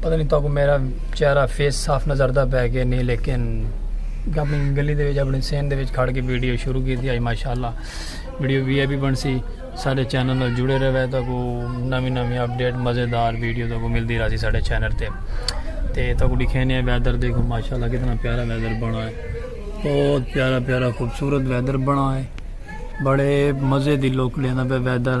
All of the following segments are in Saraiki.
پتہ نہیں تاکو میرا چہرہ فیس صاف نظر دا پہ کہ نہیں لیکن اپنی گلی دے وچ اپنی سین دے وچ کھڑ کے ویڈیو شروع کی تھی آج ماشاءاللہ ویڈیو وی اے بھی بن سی سارے چینل نال جڑے رہے ہیں تاکو نمی نمی اپڈیٹ مزیدار ویڈیو تاکو ملتی رہا سی سارے چینل تے تے تاکو لکھینے ہیں ویدر دیکھو ماشاءاللہ کتنا پیارا ویدر بنا ہے بہت پیارا پیارا خوبصورت ویدر بنا ہے بڑے مزے دی لوک لینا پہ ویدر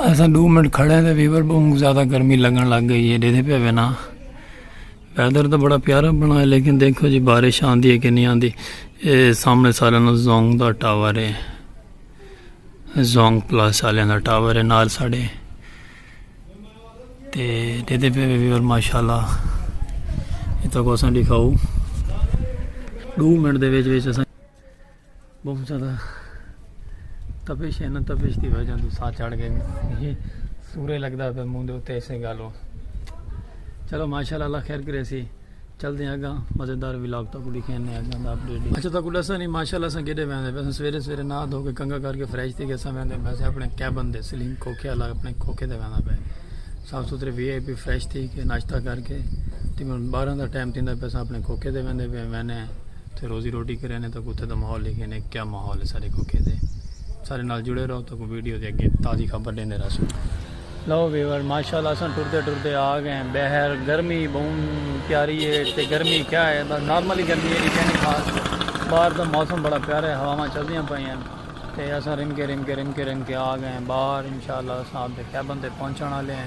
ایسا دو منٹ کھڑے ہیں ویور بہت زیادہ گرمی لگن لگ گئی ہے دیدھے پہ وینا ویدر تو بڑا پیارا بنا ہے لیکن دیکھو جی بارش آندھی ہے کہ نہیں آندھی اے سامنے سارے نا زونگ دا ٹاور ہے زونگ پلاس والے دا ٹاور ہے نال ساڑے تے دیدھے پہ ویور ماشاءاللہ اتنا کو اساں دکھاؤ دو منٹ دے ویچ ویچ اساں بہت زیادہ تپش ہے نا تپش دی وجہ تو سا چڑھ گئے یہ سورے لگدا پہ منہ دے اوتے ایسے گالو چلو ماشاءاللہ اللہ خیر کرے سی چل دیں اگا مزیدار ولاگ تک دکھین نے اگا دا اپڈیٹ دی اچھا تک دسا نہیں ماشاءاللہ سا گڈے ویندے پہ سویرے سویرے نہ دھو کے کنگا کر کے فریش تھی گسا ویندے پہ اپنے کیبن دے سلیم کوکھے والا اپنے کوکھے دے ویندا پہ صاف ستھرے وی آئی پی فریش تھی کے ناشتہ کر کے تقریبا 12 دا ٹائم تھیندا پہ اپنے کوکھے دے ویندے پہ میں نے تے روزی روٹی کرے نے تاکہ اتھے دا ماحول لکھے نے کیا ماحول ہے سارے کوکے دے سارے نال جڑے رہو تاکہ ویڈیو دے اگے تازی خبر دیندے رہسو لو ویور ماشاءاللہ اساں ٹردے ٹردے آ گئے ہیں بہر گرمی بہن پیاری ہے تے گرمی کیا ہے بس نارملی گرمی ہے لیکن خاص باہر دا موسم بڑا پیارا ہے ہواواں چلدیاں پئی ہیں تے اساں رم کے رم کے رم کے رم کے آ گئے ہیں باہر انشاءاللہ اساں آپ دے کیبن تے پہنچن والے ہیں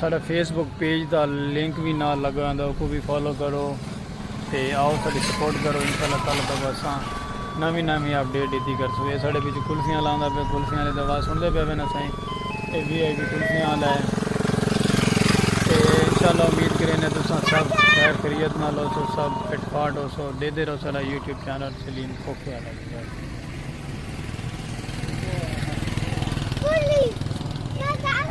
ساڈا فیس بک پیج دا لنک وی نال لگا ہوندا اوکوں وی فالو کرو تے آؤ ساڈی سپورٹ کرو انشاءاللہ کل تک اساں نویں نویں اپ ڈیٹ ڈتی کرسوں اے ساڈے پچھوں کلفیاں آلا آندا پیا کلفیاں آلے دی آواز سنڑدے پئے وینا سائیں اے وی آئی پی کلفیاں آلا ہے تے انشاءاللہ امید کرینے تساں سب خیر خیریت نال ہوسو سب فٹ فاٹ ہوسو ڈیدھے رہو ساڈا یوٹیوب چینل سلیم کوفے آلا وی۔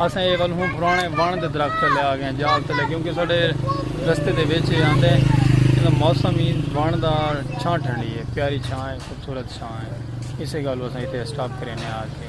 اساں اے ول ہوں پرانے ون دے درخت تلے آ گئے جال تلے کیونکہ ساڈے رستے دے وچ آندے ہیں موسم ہی ون دا چھاں ٹھنڈی ہے پیاری چھاں ہے خوبصورت چھاں ہے اسے گل اساں ایتھے سٹاپ کرینے آ کے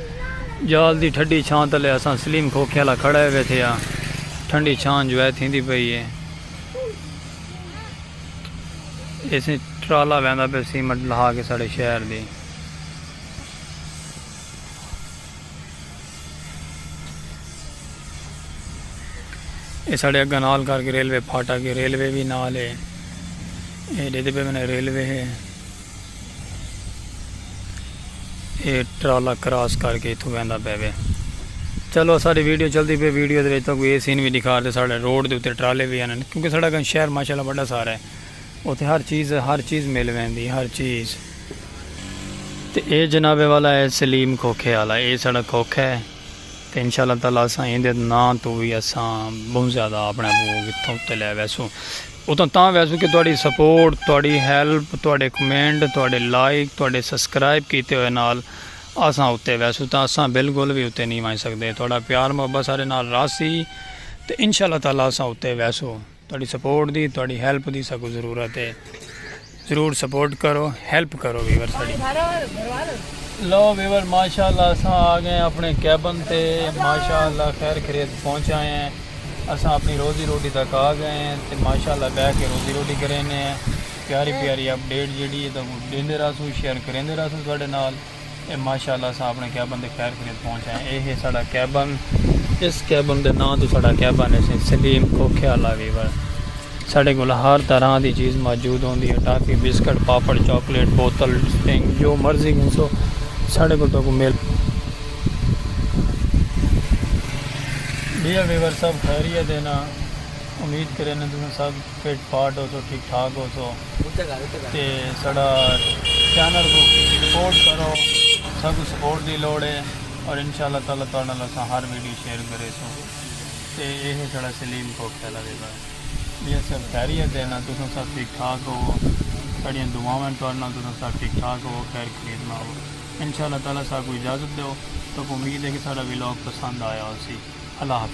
جال دی ٹھڈی چھاں تلے اساں سلیم کھوکھے آلا کھڑے ویتھے ہاں۔ ٹھنڈی چھاں انجوائے تھیندی پئی ہے۔ ایسے ٹرالا ویندا پیا سیمٹ لہا کے ساڑے شہر دی۔ اے ساڑے اگاں نال کر کے ریلوے پھاٹا کے ریلوے وی نال ہے۔ اے ڈیدے پے میں نے ریلوے ہے۔ اے ٹرالا کراس کر کے اتھوں ویندا پے وے چلو ساری ویڈیو چلدی پی ویڈیو دے وچ تو کوئی اے سین وی دکھا دے ساڈے روڈ دے اوتے ٹرالے وی ہن کیونکہ ساڈا گن شہر ماشاءاللہ بڑا سارا ہے اوتے ہر چیز ہر چیز مل ویندی ہر چیز تے اے جناب والا ہے سلیم کھوکھے والا اے ساڈا کھوکھا ہے تے انشاءاللہ تعالی اساں ایندے نام تو وی اساں بہت زیادہ اپنے کو کتھوں تے لے ویسوں اتھاں تاں ویسوں کہ تہاڈی سپورٹ، تہاڈی ہیلپ، تہاڈے کمنٹ، تہاڈے لائک، تہاڈے سسکرائب کیتے ہوئے نال اساں اتے ویسوں تاں اساں بالکل وی اتے نی ونج سکدے۔ تہاڈا پیار محبت ساڈے نال راہسی تے انشاءاللہ تعالی اساں اتے ویسوں۔ تہاڈی سپورٹ دی، تہاڈی ہیلپ دی ساکوں ضرورت اے۔ ضرور سپورٹ کرو ہیلپ کرو ویور ساڑی لو ویور ماشاءاللہ اساں آ گئے اپنے کیبن تے ماشاءاللہ خیر خرید پہنچ آئے ہیں اساں اپنی روزی روٹی تک آ گئے ہیں تے ماشاءاللہ بہ کے روزی روٹی کرینے ہیں پیاری پیاری اپ ڈیٹ جیڑی ہے تو دیندے رہسوں شیئر کریندے رہسوں تواڈے نال اے ماشاء اللہ اساں اپݨے کیبن تے خیر خیریت پہنچ آئے ہیں۔ اے ہے ساݙا کیبن۔ اس کیبن دے ناں توں ساݙا کیبن ہے سئیں سلیم کھوکھے آلا ویور۔ ساݙے کول ہر طرح دی چیز موجود ہوندی ہے۔ ٹافی، بسکٹ، پاپڑ، چاکلیٹ، بوتل، ڈرنک جو مرضی گھنسو ساݙے کول تہاکوں مل۔ ڈیئر ویور سب خیریت ہے نا۔ امید کریندے تساں سب فٹ فاٹ ہوسو ٹھیک ٹھاک ہوسو۔ تے ساڈا چینل کوں سپورٹ کرو ساکوں سپورٹ دی لوڑ ہے اور انشاءاللہ تعالی تہاڈے نال اساں ہر ویڈیو شیئر کریسوں تے اے ہے ساڈا سلیم کوک تیلا دے گھر میاں صاحب خیریت ہے نا تساں سب ٹھیک ٹھاک ہو ساڈیاں دعاواں ہیں تہاڈے نال تساں سب ٹھیک ٹھاک ہو خیر خرید نال ہو انشاءاللہ تعالی ساکوں اجازت دیو ساکوں امید ہے کہ ساڈا ولاگ پسند آیا ہوسی اللہ حافظ